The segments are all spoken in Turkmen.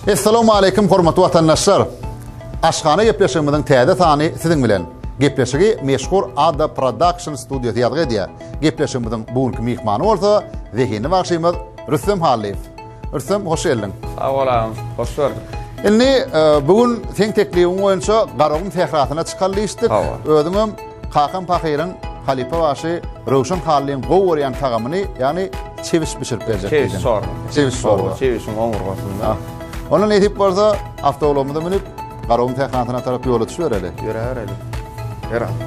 Essalamu alaykum hormatly watandaşlar. Aşgana gepleşigimiziň täze sany siziň bilen. Gepleşigi meşhur Ada Production studiýasy ýazgy edýär. Gepleşigimiziň bu günki myhmany bolsa Zehini bagşymyz Rüstem Hallyýew. Rüstem, hoş geldiň. Sag bol agam, hoş gördük. Indi e, bu gün seň teklibiň boýunça Garagum sährasyna çykal diýişdik. Özüň hem Kakam Pahyryň halypa başy Röwşen Hallyň gowy görýän tagamyny, ýagny çewiş bişirip berjek. Çewiş sor. Çewiş sor. Çewişiň omurgasynda. Onda nesip bolsa, awtoulagymyza münüp, Garagum sährasyna tarap ýola düşübereli. Ýöräbereli. Ýöräbereli.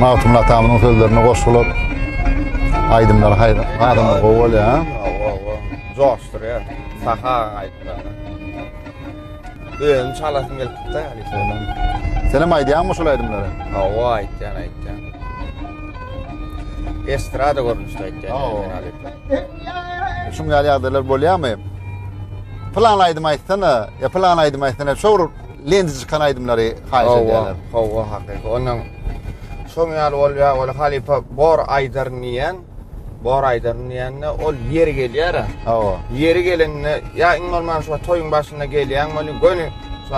Magtymguly atamyzyň sözlerine goşgular, aýdymlar haýyr, adamlar gowy bolýar. Joşdur ya, saha aýtlar. Öýüm çalasym gelip gitdi yani sonra. Sen hem aýdýanmy şol aýdymlary? Hawa aýtýan aýtýan. Estrada görnüşde aýtýan. Hawa. Şuň ýaly ýagdaýlar bolýamy? Plan aýdym aýtsana, e plan aýdym aýtsana, şor lendi çykan aýdymlary haýyş edýärler. Hawa, hakyky. Onuň şoň ýaly bolýar, ol halypa bor aýdar niýen? Bor aýdar niýende ol ýeri gelýär. Hawa. Ýeri gelende ýa iň bolman şu toýuň başynda gelýän boluň, göni şu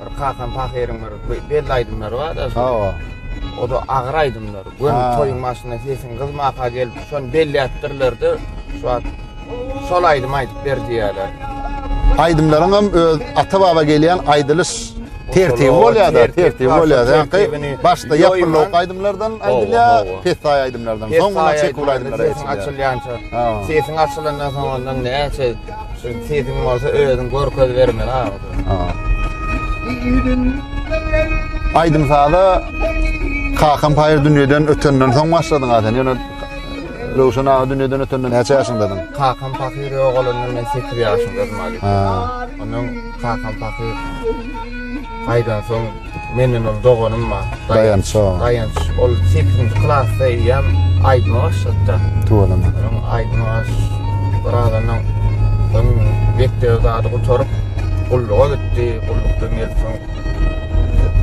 bir kakan pahyryň bir belli aýdymlary bar. Hawa. O da agyr aýdymlar. Göni toýuň başynda sesiň gyzmaka gelip, şony belläpdirler-de, şu wagt şol aýdymy aýdyp ber diýýärler. Aýdymlaryň hem öz ata-baba gelýän aýdylyş tertibi bolýar-da, tertibi bolýar. Ýagny başda ýapylyk aýdymlardan aýdylýar, pessaý aýdymlardan, soňuna çekip aýdymlar aýdylýar. Sesiň açylýança, sesiň açylandan soň ondan näçe Şu sesiň bolsa özüň görkez bermeli Aýdym saza kakam paýyr dünýeden ötenden soň başladyň ha sen. Ýöne Röwşen aga dünýeden ötenden näçe ýaşyndadyň? Kakam paýyr ýogalanda men 8 ýaşymda bolmaly. Ha. Ondan kakam paýyr aýdan soň Menden ol doganym bar. Daýanç. Daýanç. Ol 8-nji klasda eýýäm aýdym başlapdyr. Tuweleme. Onuň aýdymy aş. Bir adamdan ol mekdebe zady gutaryp, gulluga gitdi. Gullukdan gelip soň.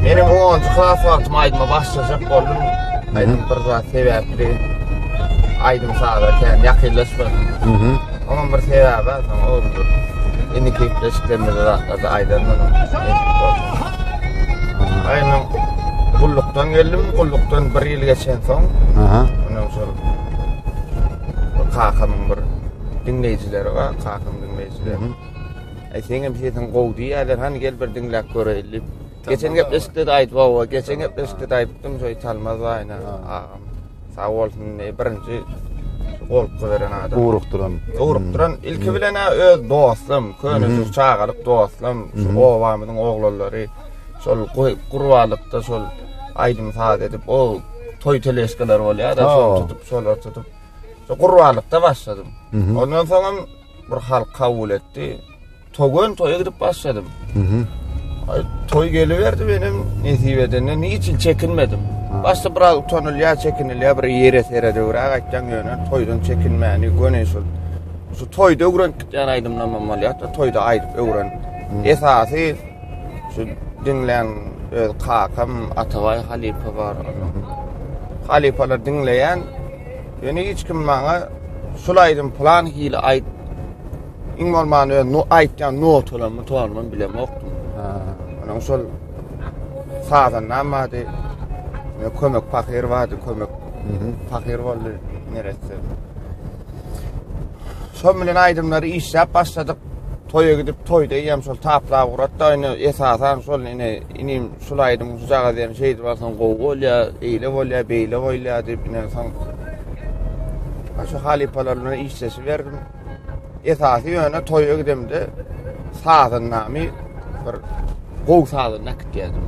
Men hem 10-njy klas wagtym aýdyma başlajak boldum. Aýdym bir zat sebäpli aýdym-saza kän ýakynlaşmadym. Onuň bir sebäbi bar, soň oglumdur. Indi kepleşiklerimiz wagtlary aýdandyr. Aýna gullukdan geldim, gullukdan bir ýyl geçen soň, aha, ondan soň kakamyň bir diňleýjileri bar, kakamyň diňleýjileri. Aý, seň hem sesiň gowy diýýärler, hany gel bir diňläp göreýin diýip. Geçen gepleşikde de aýdyp awa, geçen gepleşikde de aýdypdym şo Italmaz aýna agam. Sag bolsun, birinji golka beren adam. Ugrukdyran. Ugrukdyran. Hmm. Ilki bilen ha öz dostum, köne hmm. çagalyk dostum, şu hmm. obamyzyň oglanlary şol gurbalykda şol aýdym saz edip, o toý teleşkalar bolýar da, şol tutup, şolar tutup. Şo gurbalykda başladym. Ondan soňam bir halk kabul etdi. Togan toýa gidip başladym. Mhm. Toý geliberdi benim nesip edende ne için çekinmedim. Başda biraz utanylýa, çekinilýa, bir ýere sere döwrak aýtýan ýöne toýdan çekinmäni göni şul. Şu toýda öwrenip gitýän aýdymlarym bolýar, toýda aýdyp öwren. Esasy şu diňlän öz kakam Atabaý halypa bar. Halypalar diňleýän. Ýöne hiç kim maňa şul aýdym plan hili aýt Iň bolmany öz no aýtýan notalarymyň tonuny bilemokdym. Ha. Onuň şol sazan namady. Kömek pahyr bardy, kömek. Mhm. Pahyr boldy neresi. Şol bilen aýdymlary işläp başladyk. Toýa gidip toýda ýem şol taplap uratda ine esasan şol ine inim şul aýdym şu jaga diýen şeýdi barsan gowy bolýa, eýle bolýa, beýle bolýa diýip ine soň. Aşa halypalarymla işleşi berdim. Esasy ýöne toýa gidemde sazyndamy bir gow sazyny akyp geldim.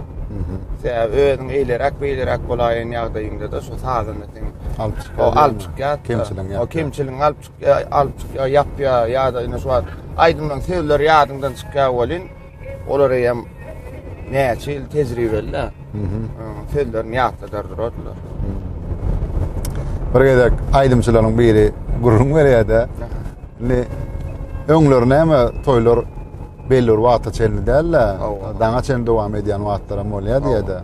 Sebäbi özüň eýleräk beýleräk bolaýan ýagdaýyňda da şu sazyny sen alyp çykýar. O alyp çykýar. Kemçiligiň ýa. O kemçiligiň alyp çykýar, alyp çykýar, ýapýar ýa-da indi şu wagt aýdymlaryň sözleri ýadyňdan çykýar welin Olar eýem näçe ýyl tejribeli-de. Sözlerini ýatladar durardylar. Bir gezek aýdymçylaryň biri gürrüň berýär-de. Indi öňler näme toýlar belli bir wagta çenli däl-de. Daňa çenli dowam edýän wagtlaram bolýar diýär-de.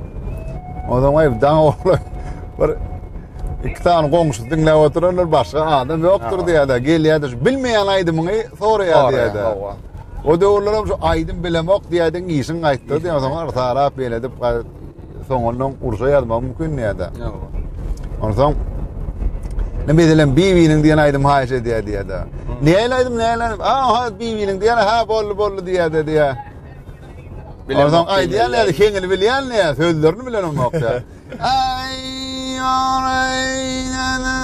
Ondan gaýry daň oglan bir iki sany goňşusy diňläp oturandyr, başga adam ýokdur diýär-de. Gelýär-de, bilmeýän aýdymyňy soraýar diýär-de. O döwürlerem şu aýdym bilemok diýädiň işiň gaýtdy diýen soň artalap beledip soňundan urşa ýazmak mümkin diýädä. Ondan soň Ne meselem Bibiniň diýen aýdym haýyş edýär diýädä. Näle aýdym näle? Aha Bibiniň diýen ha boldy boldy diýädä diýä. Ondan soň aýdýan näde heňini bilýän näde sözlerini bilenim ýok diýä. Äý, ýareý, ýene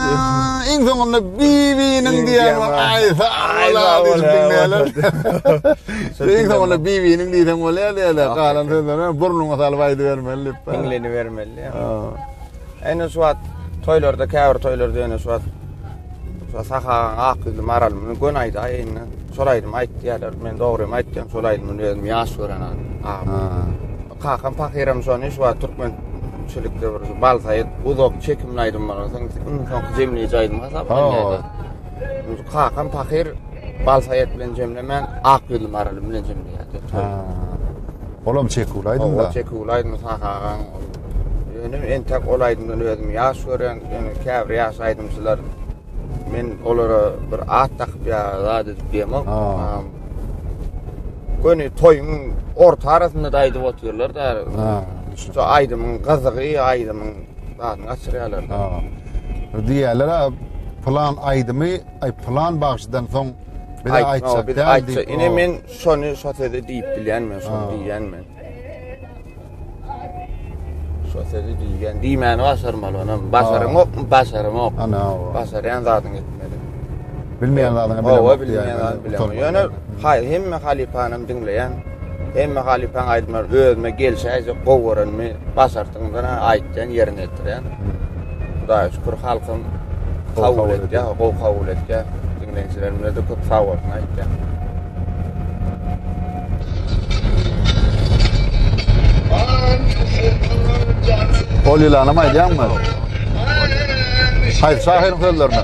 iň soňunda Bibiniň diýen bor. Aý, sag bol-a diýip diňleýärler. Iň soňunda Bibiniň diýseň bolýar diýýärler. Galan sözleri burnuňa salyp aýdybermeli diýip. Diňlenibermeli. Ene şu wagt toýlarda, käbir toýlarda ýene şu wagt Sahagaň ak ýüzli maralyny göni aýda indi. Şol aýdymy aýt diýýärler. Men dogrymy aýtýan, şol aýdymy özüm ýaş gören agam. Kakam pahyram şony şu wagt türkmen çilikde bir bal saýyt uzak çekimli aýdymlar soň iň soňky jemleýji aýdym hasaplanýardy. Kakam pahyr bal saýyt bilen jemlemän ak ýüzli maraly bilen jemleýärdi. Olam çekimli aýdym da. Çekimli aýdym sahagaň. Ýöne entek ol aýdymdan özüm ýaş görýän, ýöne käbir ýaş aýdymçylar men olara bir at dakyp ýa zat edip diýemok. Göni toýuň orta arasynda da aýdyp otyrlar da. Ha. Şu aýdymyň gyzygy, aýdymyň zadyny gaçyrýarlar. Ha. Diýýärler, plan aýdymy, ay plan bagşydan soň bir aýtsa, bir aýtsa. Ine men şony şo sözi diýip bilýän men, şony diýýän men. Şo sözi diýgen, diýmäni başarmaly onam. Başaryň ok, başaryň ok. Ana, başarýan zadyň etmeli. Bilmeýän zadyň bilmeýän. Owa bilmeýän zat bilmeýän. Ýöne haý, hemme halypany diňleýän. Hemme halypany aýdymlar özüme gelşäýje gowy görenmi, başartdygymdan aýtýan ýerine ýetirýän. Hudaýa şükür halkym kabul etdi, gowy kabul etdi. Dinleýjilerimize de köp sag bolsun aýtýan. Ol ýylana maýdanmy? Haýsy şahyryň sözlerini?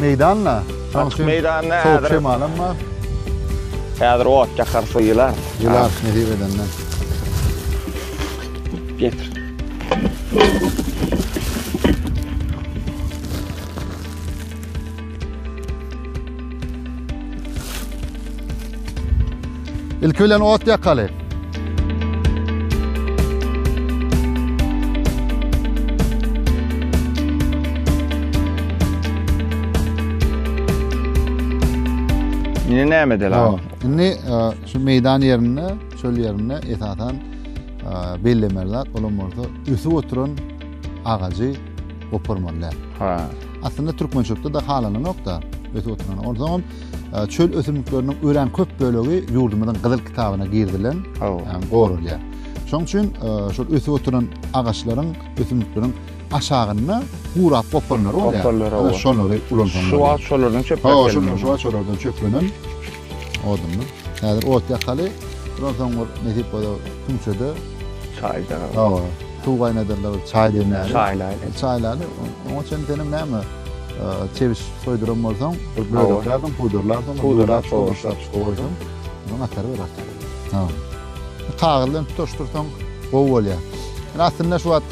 Meýdanda, şonuň üçin meýdanda sowuk şemalam bar. Häzir ot ýakarys we ýylarys. Ýylarys nesip edende. Getir. Ilki bilen ot ýakaly. Ine näme edeli? Ýok. Indi e, şu meýdan ýerinde, çöl ýerinde esasan e, bellemeli zat bolan bolsa ösüp oturan agajy goparmaly. Ha. Aslynda türkmen çöpde de halanynok da ösüp oturan. Onsoň çöl ösümlikleriniň örän köp bölegi ýurdumyzyň Gyzyl kitabyna girizilen, ýagny goralýar. Şonuň üçin şol ösüp oturan agaçlaryň, ösümlikleriň aşagynda gurap gopanlary bolýar. Gopanlary bolýar. Şolary ulansaň. Şu wagt şolardan çöplenip gelýär. Şu wagt şolardan çöplenen odunlar. Häzir ot ýakaly. Şondan soň bir nesip bolsa kümçede çaýda. Hawa. Suw gaýnadarlar, çaý demlärler. Çaýlaýlar. Çaýlaýlar. Oňa çenli senem näme? Çebiş soýduran bolsaň, bir böleklerden pudarlardan, pudarlar sowaşlar goýsaň, onuň atary bir atar. Ha. Kagyz bilen tutaşdyrsaň gowy bolýar. Ýöne aslynda şu wagt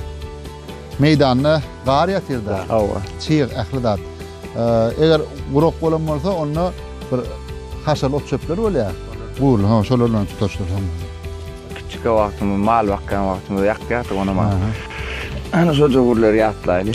meýdanda gar ýatyrda. Hawa. Çyg ähli zat. Eger gurak bolan bolsa, onda bir haşal ot-çöpler bolýar. Gurly, ha, şolar bilen tutaşdyrsaň. Kiçik wagtymyz, mal bakýan wagtymyz ýakýardyk onam. Ana şo döwürleri ýatlaýly.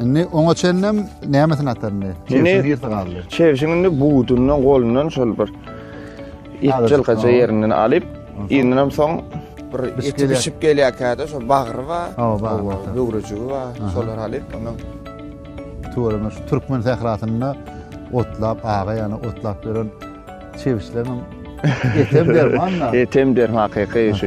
Indi oňa çenlem nämesini ataryndy? Çewşiň ýersi galdy. Çewşiň indi budundan golundan şol bir etjelkaça ýerinden alyp, indinem soň bir eti bişip gelýärkä-de şol bagry bar, böwrejigi bar, şolary alyp, ondan tuweleme şu türkmen sährasynda otlap, aga ýany otlap ýören çewişleriň etem derman-da. Etem derman, hakyky şu.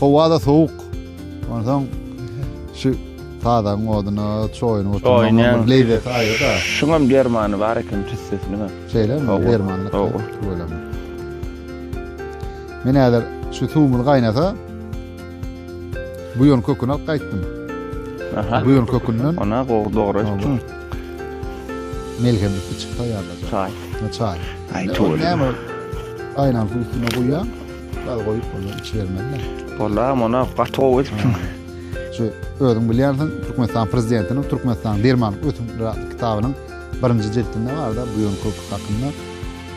Howada sowuk. Ondan şu tazaň oduna çoýun oturmaň bir lezzet aýda. Şuňam dermany bar eken tüssesini bar. Şeýle mi? Dermanly. Howwa. Men häzir şu suwumyz gaýnasa buýan köküni alyp gaýtdym. Aha. Buýan kökünden. Ona gowy dogry etdim. Melhem bitti çyksa ýa-da. Çaý. Çaý. Aý, toýly. Näme? Aýnan suwuny goýýan. Gaz goýup bolýar, içi bermezler. Bolla, mona gaty gowy edipsiň. Şu özüň bilýänsiň, Türkmenistan prezidentiniň Türkmenistanyň derman ösümlikleri atly kitabynyň birinji jildinde barda bu ýol köprüsi hakynda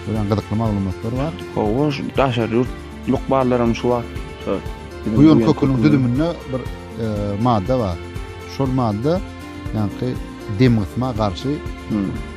örän gyzykly maglumatlar bar. Hawa, şu daşary ýurt lukmanlaram şu wagt şu Bu ýol köprüniň düzüminde bir madda bar. Şol madda ýaňky demgysma garşy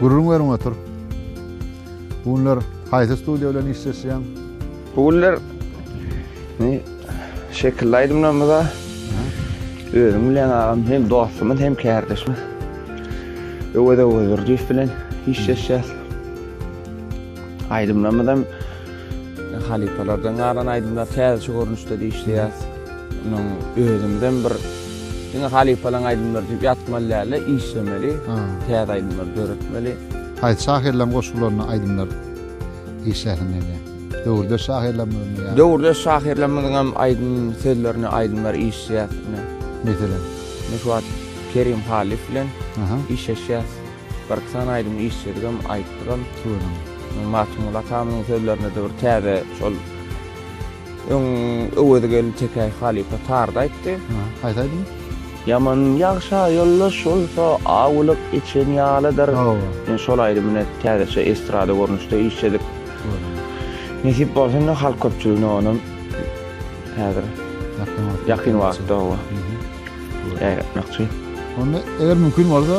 Gürrüň beriň otur. Bu günler haýsy studiýa bilen işleşýäň? Bu günler indi şekilli aýdymlarymyza özüň bilýän agam hem dostumyz hem kärdeşimiz Öwez Öwezdurdyýew bilen işleşýäs. Aýdymlarymyzam Halypalardan galan aýdymlar täzeçe görnüşde dişleýär. Munuň özümizem bir diňe halypalaň aýdymlary diýip ýatmaly dälde, işlemeli, täze aýdymlar döretmeli. Haýsy şahyrlaň goşgularyna aýdymlar işlärsiň gelýär? Döwürdeş şahyrlarymyzyň ýa. Döwürdeş şahyrlarymyzyň hem aýdym sözlerine aýdymlar işleýäs ine. Meselem? Ine şu wagt Kerim Halyf bilen işleşýäs. Birki sany aýdym işledigem, aýtdygam. Göwrem. Magtymguly atamyzyň sözlerine-de bir täze şol öň Öwezi geldi Tekäý halypa tarda aýtdy. Hä, haýsy aýdym? Ýaman ýagşa ýoldaş bolsa, awlyk içen ýalydyr. Hawa. Ine, şol aýdymyny täzeçe estrada görnüşde işledik. Göwrem. Nesip bolsa, indi halk köpçüligine onam häzir Ýakyn wagtda. Ýakyn wagtda, hawa. Ýaýratmakçy. Onda, eger mümkin bolsa.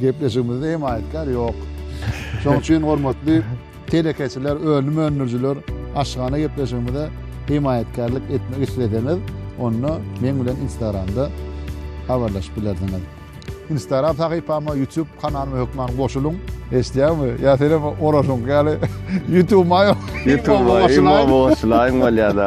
Gepleşigimizde hem aýdkar ýok. Şoň üçin hormatly telekeçiler, önüm öndürijiler aşgana gepleşigimize himaýatkärlik etmek isleseňiz, onda men bilen Instagramda habarlaşyp bilersiňiz. Instagram sahypama, YouTube kanalyma hökman goşulyň. Eşitýärmi? Ýa sen hem oraşyň ýaly YouTube-ma ýok. YouTube-ma goşulaýyň bolýar-da.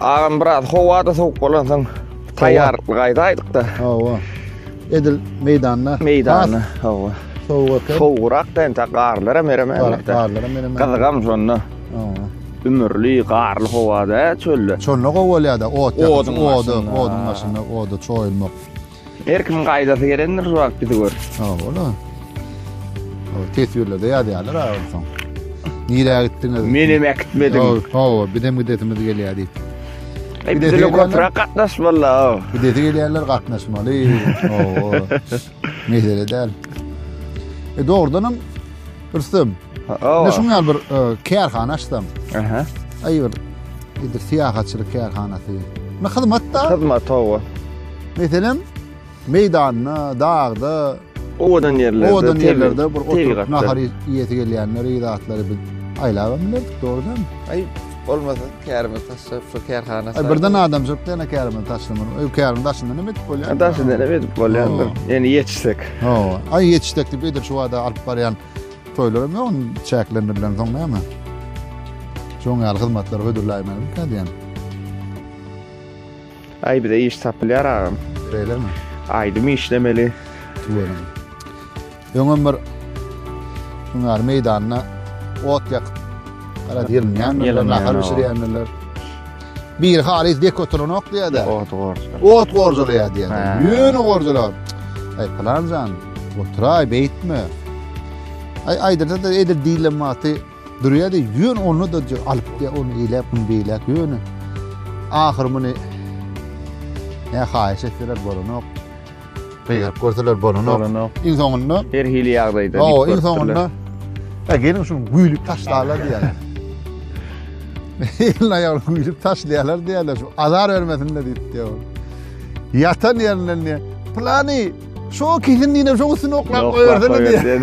Agam biraz howa-da sowuk bolansoň taýýarlykly gaýdaýdyk-da. Hawa. Edil meýdanda. Meýdanda, hawa. Sowuk eken. Sowugrak-da entek garlar hem eremendi. Garlar hem eremendi. Gyzygam şonda. Hawa. Ümürli, garly howada, çölde. Şonda gowy bolýar-da, ot ýakyp, oduň başynda, oda çoýulmak. Her kim gaýdasy gelendir şu wagt bizi gör. Ha, ola. O teswirlerde ýazýarlar ha onsoň. Nirä gitdiňiz? Men hem äkitmedim. Hawa, hawa, biz hem gidesimiz gelýär diýip. Ey, Bir de bizle diýerler- köpräk gatnaş walla. Bir de gelýärler gatnaşmaly. Hawa. Mesele däl. E dogrudan hem Rüstem. Ne şun ýaly bir e, kärhana açsam. Aha. Aý bir edir syýahatçylyk kärhanasy. Ne hyzmat da? Hyzmat hawa. Meselem meýdanda, dagda, owadan ýerlerde, owadan ýerlerde bir oturyp nahar iýesi gelýänleri, zatlary bir aýlap bilerdik, dogrudanmy? Aý, Bolmasa kärimiz taşlar şu kärhana saýt. Birden adamjyk dene kärimiz taşlaman. Öý kärimiz taşyndan hem edip bolýar. Taşy dene edip bolýar. Ýani ýetişsek. Hawa. Ay ýetişsek diýip edir şu wada alyp barýan toýlarym ýok çäklendirilen soň näme? Şoň ýaly hyzmatlary hödürläýmeli diýen. Ay bize iş tapylýar agam. Beýlemi? Aýdym işlemeli. Tuwelem. Öňem bir Hunary meýdanyna ot ýakyp, garaz ýylynýandyr, nahar bişirýändirler. Biri halys dek oturanok diýýär-de. Ot gorjalaýar. Ot gorjalaýar diýýär. Ýöne gorjalar. Aý pylan jan, oturaý beýtme. Aý aýdyrda-da edil diýlen wagty Durýady, ýöne onda-da alypdy, ony eýläk, muny beýläk, ýöne ahyry muny ne haýyş etseler bolanok, gygyryp görseler bolanok. Bolanok. Iň soňunda her hili ýagdaýda. Hawa, iň soňunda Ha geliň şuny güýlüp taşlalar diýýärler. Elini aýagyny güýlüp taşlaýarlar diýýärler, şu azar bermesin de diýip diýýär. Ýatan ýerinden diýýär, plany şu kesin diýene şu üstüne oklap goýarsana diýýär.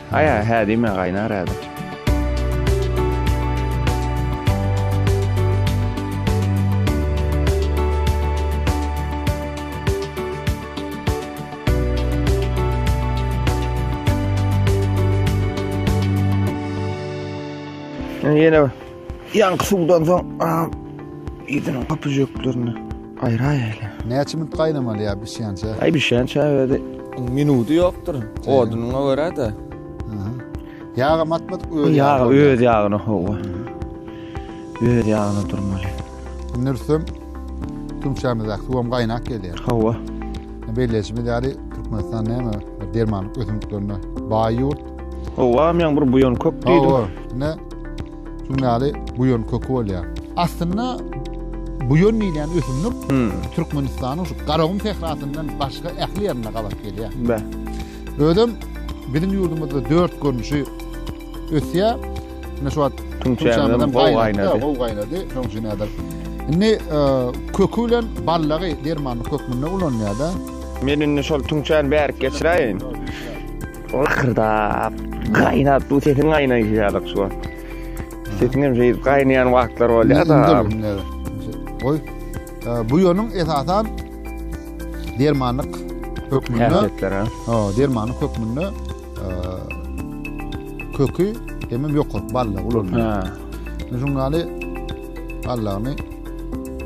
Aýa hä diýme gaýnar häzir. Ýene Ýaňky suwdan soň agam idiniň gapyjeklerini aýraýaýly. Näçe minut gaýnamaly ýa bişýän çä? Aý bişýän çä özi minudy ýokdur. Odunyňa görä-de. Ýagam atmadyk öz ýagy. Ýag öz ýagyna howa. Öz ýagyna durmaly. Indi ürsem tümçämizdäki suwam gaýnap gelýär. Howa. Belleýşimiz ýaly Türkmenistan näme dermanlyk ösümliklerine baý ýurt. Owa, men bir buýan kök diýdim. Owa, ne? Şundaly buýan köki bolýar. Aslynda buýan diýilýän ösümlik hmm. Türkmenistanyň şu Garagum sährasyndan başga ähli ýerinde gabat gelýär. Bä. Özüm biziň ýurdumyzda dört görnüşi ösýär. Ine şu wagt tüňçämizden gowy gaýnady. Gowy gaýnady. Şoň üçin häzir. Indi e, köki bilen ballagy dermanlyk hökmünde ulanýar-da. Men indi şol tüňçäni bärik geçiräýin. Lakyrdap, gaýnap, bu sesiň gaýnaýşy ýalyk şu. Sesiň hem şeýdip gaýnaýan wagtlar bolýar-da. Goý. Bu ýonuň esasan dermanlyk hökmünde. Ha, dermanlyk hökmünde köki hem hem ýokary balla ulanylýar. Ha. Şuň ýaly ballagyny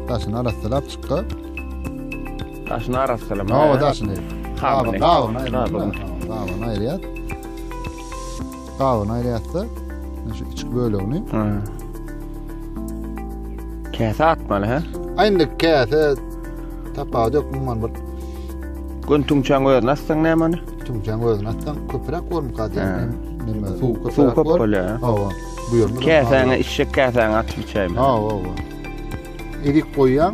daşyna arassalap çykga. Daşyny arassalama. Hawa, daşyny. Gabyny. Gabyny aýyrýar. Gabyny aýyrýar. Gabyny aýyrýar-da, şu içki bölegini. Käse atmaly, hä? Aýndy käse tapawut ýok mundan bir. Gün tüňçäň özüni atsaň nämani? Tüňçäň özüni atsaň köpräk bolmuk gadyr. Näme? Suw köpräk. Suw köp bolýar. Hawa. Bu ýerde käsäňe içjek käsäňe atyp içäýme. Hawa, hawa. Edik goýýaň.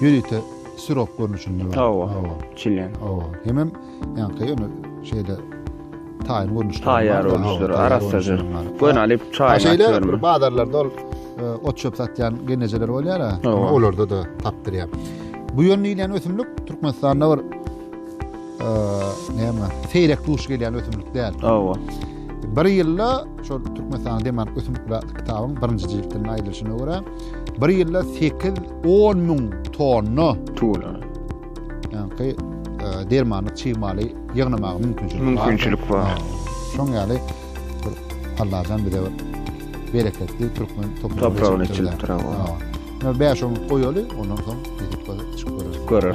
Ýörite sirop görnüşinde bar. Hawa. Hawa. Çilen. Hawa. Hemem ýaňky ýöne şeýle taýyn görnüşde. Taýýar görnüşleri arassajar. Gön alyp çaýyna Şeýle bir bazarlarda ol e, ot çöp satýan genejeler bolýar ha. Olarda da tapdyrýar. Bu ýöne diýlen ösümlik Türkmenistanda bir näme, seýrek duş gelýän ösümlik däl. Hawa. Bir ýylda şol Türkmenistanyň demark ösümlik bilen kitabyň birinji jildinde aýdylyşyna görä, bir ýylda 8-10 müň tonna tuwla. Ýa-ni dermanlyk çig maly ýygnamaga mümkinçilik bar. Mümkinçilik bar. Şoň ýaly bir Allahjan bize bir bereketli türkmen topragyny çilip durar. Hawa. Näme bäş on goýaly, ondan soň ýetip goýar. Görür.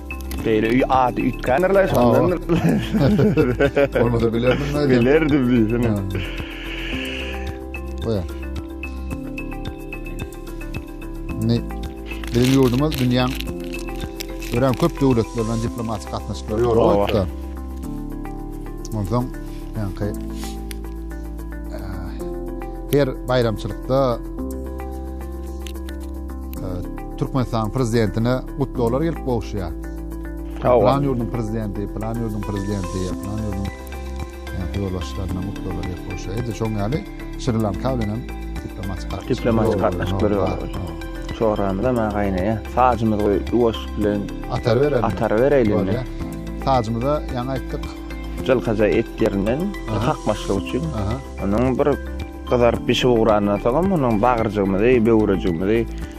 Beýle öý ady üýtgändirler şondan. Olmasa bilerdim nädip? Bilerdim diýsene. Goýa. Ne? Biziň ýurdumyz dünýäň örän köp döwlet bilen diplomatik gatnaşyklar ýoraýtdy. Ondan ýa-da ki her bayramçylykda Türkmenistanyň prezidentine gutlaglar gelip gowuşýar. Sag bol. Plan ýurduň prezidenti, plan ýurduň prezidenti, plan ýurduň ýolbaşçylaryna gutlaglar gelip gowuşýar. Edil şoň ýaly Şri Lanka bilen hem diplomatik gatnaşyklar. Diplomatik gatnaşyklar ýok. Çorramyza maňa gaýnaýa. Sajymyzy goý, ýuwaşlyk bilen atar berelim. Atar bereýin indi. Sajymyza ýaňy aýtdyk. Jylkaja et ýerinden kakmaçlyk üçin. Onuň bir gyzaryp bişip ugrandan soňam onuň bagyrjygymyzy, böwrejigimizi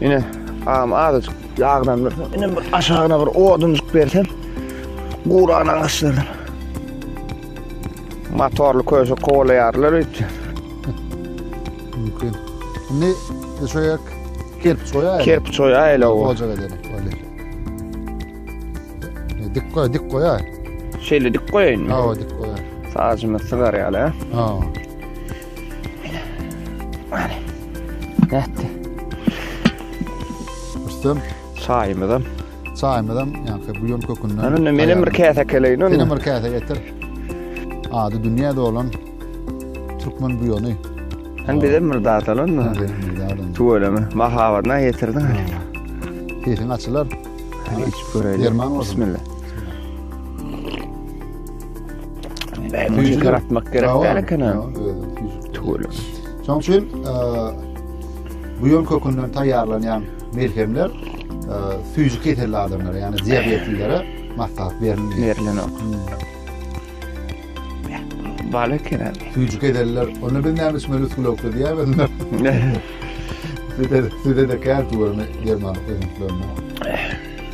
Ine, agam azajyk ýaglandyrsam, ine bir aşagyna bir odunjyk bersem, guran agaçlardan. Motorly köşe kowalaýarlar öýtse. Mümkin. Indi düşäýek. Kerpiç goýaýyň. Kerpiç goýaýyň. Goja gelelim. Öyle. Dik goý, dik goýaý. Şeýle dik goýaýyn. Hawa, dik goýaý. Saçymy sygar ýaly. Hawa. Nätdi. Rüstem. Çaýymyzam. Çaýymyzam ýanky buýan kökünden. Ana men hem bir käse keleýin onda. Sen bir käse getir. Ady dünýä dolan türkmen buýany. Sen bize bir zat alan mı? Tüweleme. Mahabatna getirdiň. Sesiň açylar. Hiç göreýin. Derman Bismillah. Tüýjük yaratmak gerek däl eken ha. Tüýjük. Şoň üçin buýan kökünden taýýarlanýan melhemler tüýjük keselli adamlara, ýagny diabetlilere maslahat berilýär. Berilýär. Bala kene. Tüýjük keseller, onda biz näme içmeli suwlukda diýämiz? Size size de kär tuwurmy derman öňütlerine.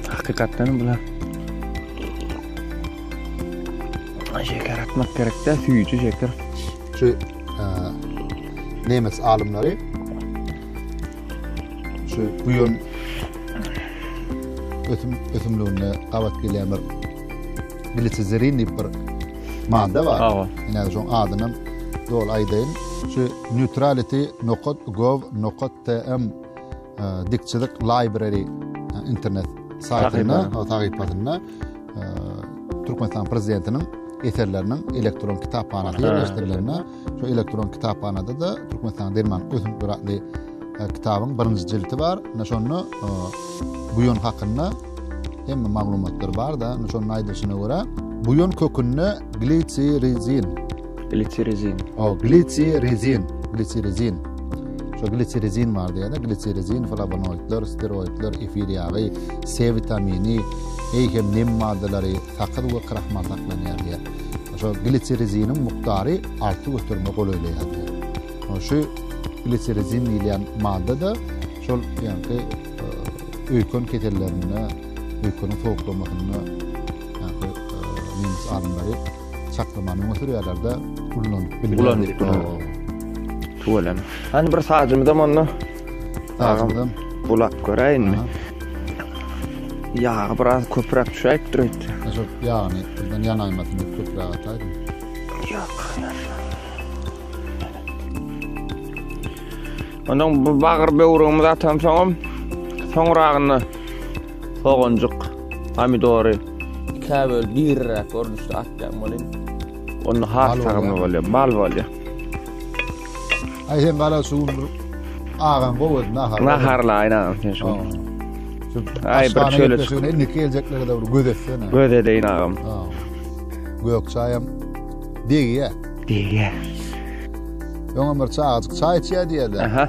Hakykatdan bular. Şeker atmak gerekde, süýji şeker. Şu nemes alymlary şu buýan ösüm ösümliginde gabat gelýän bir glisizerin diýip bir madda bar. Hawa. Ine şoň adyny dol aýdaýyn. Şu neutrality nokat gov nokat tm dikçilik library internet saýtynda, saýtynda Türkmenistan prezidentiniň eserleriniň elektron kitaphanasy ýerleşdirilende şu elektron kitaphanada da Türkmenistan derman ösüp duratly e, kitabyň birinji jildi bar. Ine şonda e, bu ýön hakynda hemme maglumatlar bar da, ine şonda aýdylyşyna görä, bu ýön kökünde glisirizin Glitsirezin. O, glitsirezin, glitsirezin. Şu glitsirezin bar diýende, glitsirezin, flavonoidler, steroidler, efir ýagy, C witamini, eý hem nem maddalary, sakyz we krahmal saklanýar diýär. Şu glitsireziniň mukdary arty göterme golaýlaýar diýär. Şu glitsirezin diýilýän madda da şol ýaňky e, öýken kesellerinde, öýkeniň sowuklamasynda ýaňky e, nemes alymlary çaklamany öňe sürýärler-de, ulanyp bilýärler. Ulanyp bilýärler. Tüweleme. Hany bir sazymyzam onda. Sazymyzam. Bulak göräýinmi? Ýagy biraz köpräk düşäýip dur öýt. Şol ýagyny birden ýanaýmasyn diýip köpräk ataýdym. Ýok. Ondan bu bagyr böwrügimizi atamsoňam, soňragynda Soganjyk, pomidory ikä bölüp diriräk görnüşde atýan bolýar. Onda has tagamy bolýar, bal bolýar. Aý sen gara şu gün bir agaň gowy edin nahar. Naharla aýnan sen şu. Aý bir çöle çyk. Şuny indiki geljekleri de bir göz etsene. Göz edeýin agam. Ha. Gök çaýam degýä. Degýä. Öňe bir çaýyk çaý içýä diýýä-de. Aha.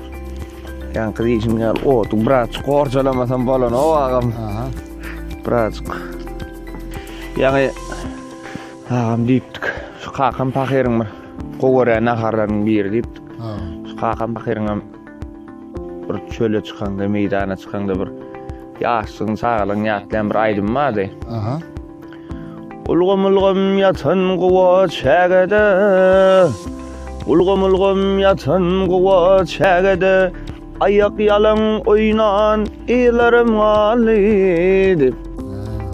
Ýaňky diýişim ýaly otu biraz gorjalamasam bolan o agam. Aha. Biraz. Ýaňy agam diýipdik. Şu kakam pahyryň bir gowara naharlaryň biri diýipdik. Ha. Şu kakam pahyryň hem bir çöle çykanda, meýdana çykanda bir ýaşlygyň, çagalygyň ýatlaýan bir aýdym bardy. Aha. Ulgam-ulgam ýatan guwa çägede, Ulgam-ulgam ýatan guwa çägede, Aýak ýalaň oýnan yzlarym galdy diýip.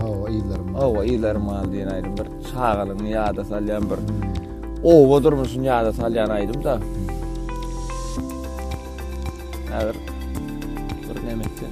Hawa, yzlarym galdy. Hawa, yzlarym galdy diýen aýdym bir çagalygyňy ýada salýan bir oba durmuşyny ýada salýan aýdym-da. Häzir bir näme etseň.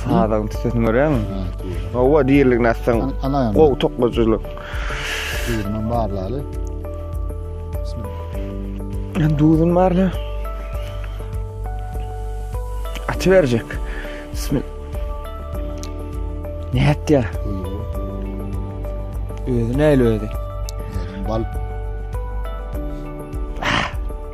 Sadagyň tüsesini görýäňmi? Hawa, diýerligini atsaň. Gowy toklajylyk. Düzünden barlaly. Bismillah. Düzün barla. Açy berjek. Bismillah. Ne etdi? Özü neyle ödü? Bal.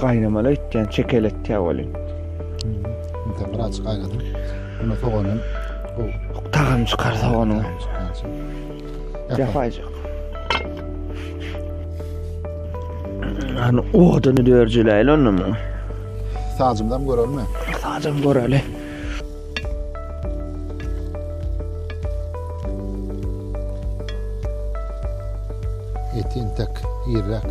Gaýnamaly etýän çekeletýä welin. Sen bir açyk aýladym. Buna soganam bu tagam çykar soganyň. Ýapaýjak. Ana oduny dörjüläýli ondan. Sazymdan görelmi? Sazym göreli. Etin tek, irrak.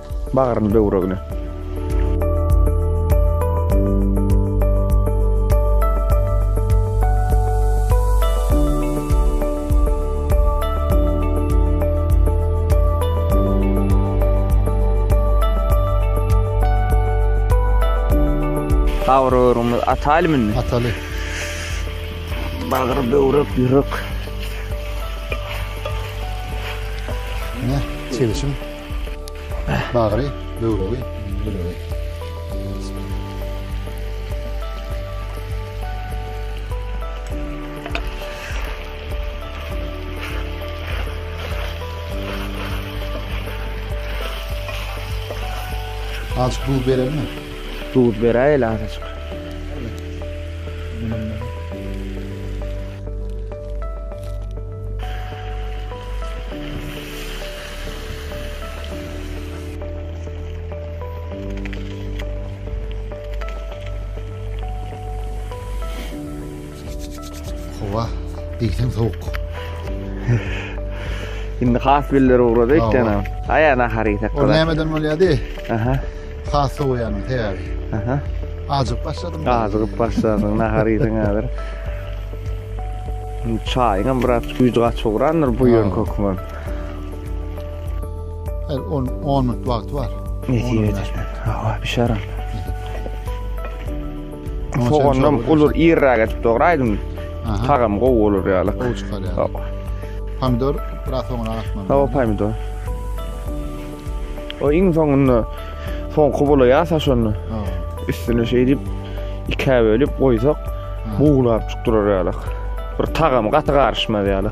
Bagryny böwregini. Gawuröwrümiz ataly mı indi? Ataly. Bagry böwrek, ýürek. Ne? Çelişim. Bagry, böwregi, ýüregi. Azk duz berelmi? Duz beräýeli azajyk. Howa diýseň sowuk. Indi has biller ugrady ekdana. Aýa nahar ýesek. O nämeden bolýady? Aha. Has sowaýan sebäbi. Aha. Ajyk başladym. Ajyk başladym nahar ýeseň häzir. Çaýyňam biraz güýji gaç ugrandyr bu ýöne kökmen. Her 10 10 minut wagty bar. Nesibe eder. Hawa, bişerim. Soganam ulur irräk etip dogry aýdym. Tagam gowy bolar ýaly. Gowy çykar ýaly. Pomidor biraz soňra atmaly. Hawa, pomidor. O iň soňunda soňky bolaýa saşonda. Üstüne şey edip ikä bölüp goýsak, buglap çykdyrar ýaly. Bir tagam gaty garyşmaz ýaly.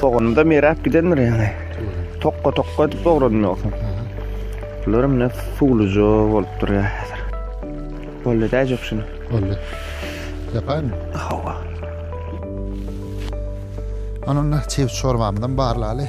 Soganymda meräp gidendir ýaňy. Tokga tokga edip dogradym ýogsam. Bular mine suwluja bolup durýar häzir. Boldy da ejep şunu. Boldy. Ýapaýmy? Hawa. Ananda çeýe çorbamyzam barlaly.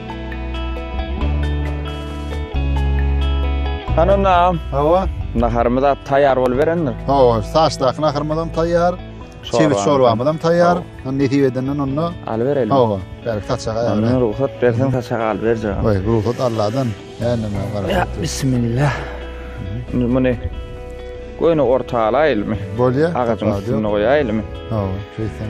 Hananam. Hawa. Naharymyz at taýýar boluberendir. Hawa, saçdaky naharymyz hem taýýar. Çewiz çorbamyz hem taýýar. Hany nesip edenden onda alyp berelim. Hawa, bärik saçak aýaly. Hany rugsat berseň saçak alyp berjek. Haý, rugsat Allahdan. Hany näme garaşyp. Bismillah. Muny goýny orta alaýylmy? Bolýa. Agajyň üstüne goýaýylmy? Hawa, şeýtseň.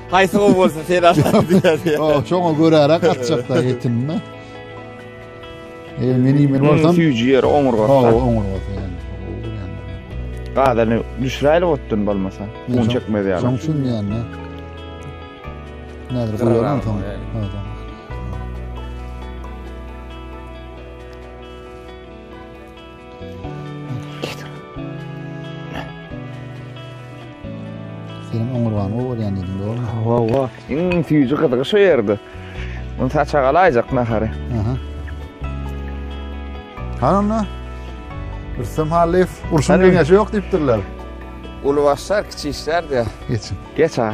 Haýsy gowy bolsa sen atarsyň diýýär. O, şoňa göräräk atjakda etini. Eger men iýmen bolsam, süýji ýeri oňurga. Ha, oňurga. Gazany düşräýli otdan bolmasa, un çekmez ýaly. Şoň üçin ýany. Nädir goýaram soň. Senin oňurgan o bolýan diýdim, dogrumy? Hawa, hawa. Iň süýji gyzygy şu ýerde. Muny saça galaýjak nahary. Aha. Hananda? Rüstem Hallyýew, urşuň geňeşi ýok diýipdirler. Uly başlar, kiçi işler diýär. Geçin. Geç ha.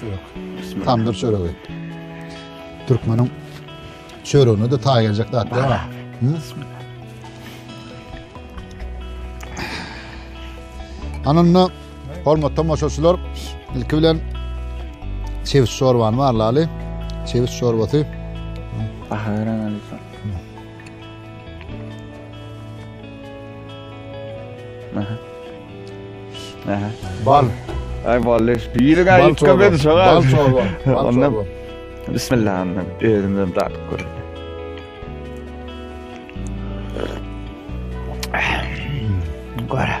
Çörek. Tamdyr çöregi. Türkmeniň çöregine de taý geljek zat däl. Ananda hormatly tomaşaçylar, ilki bilen çewiş çorbany barlaly. Çewiş çorbasy. Baha berän Bal. Ay bal leş. Yürü gel yürü gel beni şoğa. Bal çorba. Bal çorba. Bismillah annem. Özümden datıp görün. Gora.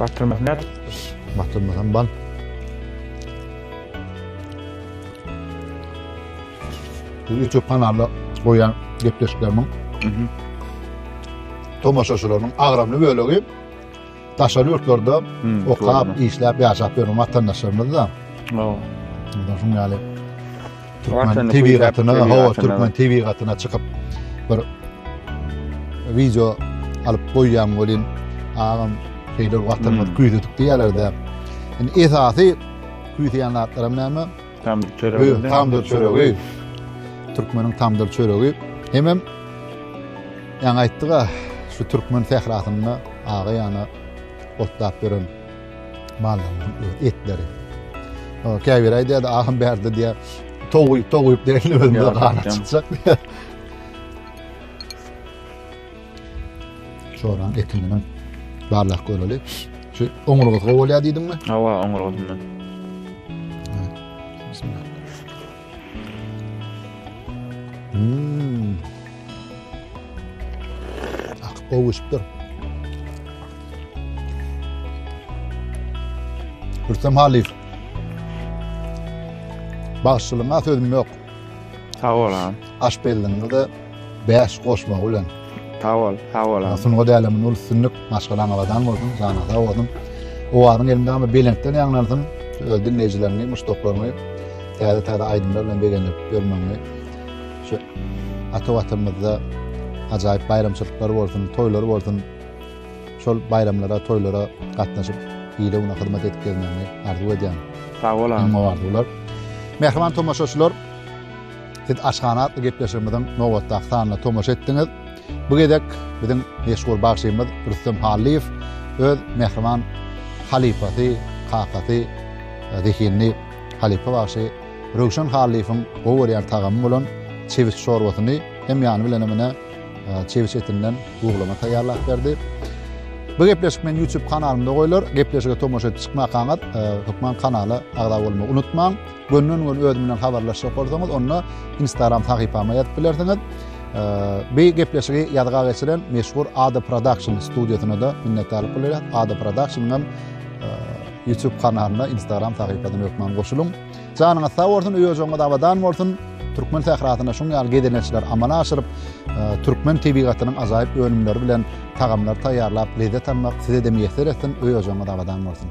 Batyrmasam nädip? Batyrmasam bal. Bu YouTube kanalda goýan gepleşiklerimiň tomaşaçylarynyň agramly bölegi Daşary ýurtlarda okap, işläp, ýaşap ýören watandaşlarymyz-da. Şunuň ýaly türkmen tebigatyna, hawa, türkmen tebigatyna çykyp bir wideo alyp goýýan welin, agam şeýle watanymyz küýsedik diýýärler-de. Indi esasy küýseýän zatlaram näme? Tamdyr çöregi. Biz tamdyr çöregi. Türkmeniň tamdyr çöregi. Hemem ýaňy aýtdyk-a, şu türkmen sährasynda aga ýana otlap beren mallaryň etleri. O käbir aýdýar, ahym bärde diýär, toguýup, toguýup derli özünde gana çykjak diýär. Çoran eti bilen barlak göreli. Şu oňurga gowy bolýar diýdiňmi? Hawa, oňurga bilen. Hmm. Ah, gowy şüpür. Rüstem Haliyev. Bağışçılığına sözüm yok. Sag bol agam. Aşpezligiňizde bäş goşmagy bilen. Sag bol, sag bol agam. Sungat äleminde uly üstünlik, maşgalaň abadan bolsun, janyň sag bolsun. Owazyň elimde ama belentden ýaňlansyn. Öz dinleýjilerini, muşdaklaryny täze-täze aýdymlar bilen begendirip ýörmäňi. Şu ata watanymyzda ajaýyp baýramçylyklar bolsun, toýlar bolsun. Şol baýramlara, toýlara gatnaşyp, ile-una hyzmat edip gelmegiňi arzuw edýän. Sag bol agam. Gowy arzuwlar. Mähriban tomaşaçylar, siz Aşhana atly gepleşigimiziň nobatdaky sanyna tomaşa etdiňiz. Bu gezek biziň meşhur bagşymyz Rüstem Hallyýew öz mähriban halypasy, kakasy, e, zehinli halypa bagşy Röwşen Hallyýewiň gowy görýän tagamy bolan çewit şorbasyny hem ýany bilen hem çewiş etinden buglama taýýarlap berdi. Bu gepleşik men YouTube kanalymda goýlar. Gepleşige tomaşa edip çykmakaňyz, e, hökman kanala agza bolmagy unutmaň. Gönden gön özüm bilen habarlaşyp bolsaňyz, onda Instagram sahypama ýazyp bilersiňiz. E, bu gepleşigi ýazga geçiren meşhur Ada Production studiýasyna da minnetdarlyk bildirýän. Ada Production-yň e, YouTube kanalyna, Instagram sahypasyna hökman goşulyň. Janyňyz sag bolsun öý ojagyňyz abadan bolsun. Türkmen sährasynda şuň ýaly gezelençler amala aşyryp, e, türkmen tebigatynyň ajaýyp önümleri bilen tagamlar taýýarlap lezzet almak size-de miýesser etsin, öý ojagyňyz abadan bolsun.